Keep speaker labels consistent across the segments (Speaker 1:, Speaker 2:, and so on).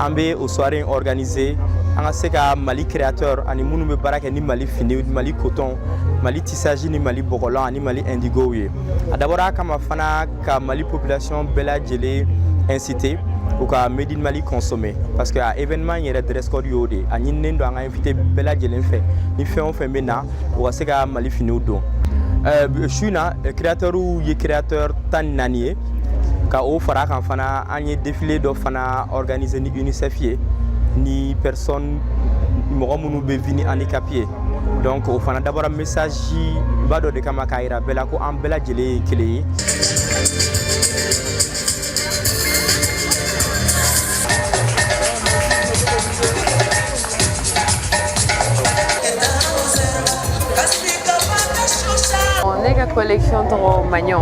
Speaker 1: an bɛ o soirée in organiser an ka se ka mali créateur ani minnu bɛ baara kɛ ni mali fini mali coton mali tissage ni mali bɔgɔlan ani mali indigow ye a dabɔra a kama fana ka mali population bɛɛ lajɛlen inciter u ka made in mali consommer parce que a événement yɛrɛ dress code y'o de a ɲininen don an ka invité bɛɛ lajɛlen fɛ ni fɛn o fɛn bɛ na u ka se ka mali finiw don Euh, su in na créateurs ye créateur tan ni naani ye ka o fara kan fana An ye défilé dɔ fana organiser ni UNICEF ye ni personne mɔgɔ minnu bɛ vivre ni handicap ye donc o fana dabɔra message ba dɔ de kama k'a yira bɛɛ la ko an bɛɛ lajɛlen ye kelen ye.
Speaker 2: Ne ka collection tɔgɔ maɲɔ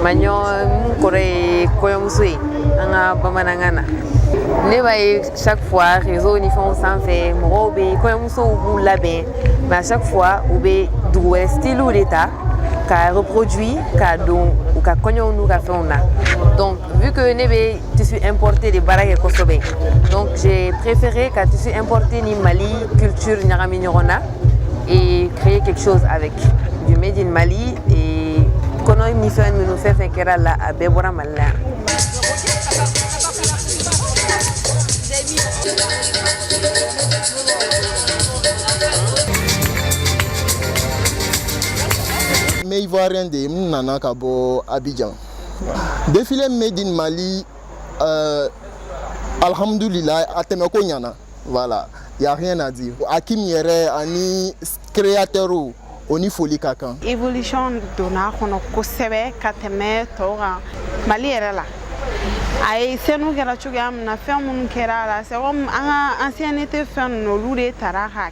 Speaker 2: maɲɔ mun kɔrɔ ye kɔɲɔmuso ye an ka bamanankan na ne b'a ye chaque fois réseau ni fɛnw sanfɛ mɔgɔw bɛ kɔɲɔmusow b'u labɛn mais à chaque fois u bɛ dugu wɛrɛ stylew de ta ka reproduit ka don u ka kɔɲɔw n'u ka fɛnw na donc Vu que ne bɛ tissu importé de baara kɛ kosɛbɛ donc j'ai préféré ka tissu importé ni Mali culture ɲagami ɲɔgɔn na et créer quelque chose avec du made in Mali et kɔnɔ ni fɛn minnu fɛn fɛn kɛra a la a bɛɛ bɔra Mali la yan.
Speaker 3: N bɛ Ivoirien de ye, n nana ka bɔ Abidjan. Défilé Made in Mali, euh, Alhamdoulilah, a tɛmɛko ɲana. Voilà, y a rien à dire. Akim yɛrɛ ani créateurw ni foli ka kan évolution
Speaker 4: donna kɔnɔ kosɛbɛ ka tɛmɛ tɔw kan mali yɛrɛ la a ye scène kɛra cogoya min na fɛn minnu kɛra a la c'est comme an ka ancienneté fɛn ninnu olu de tara ka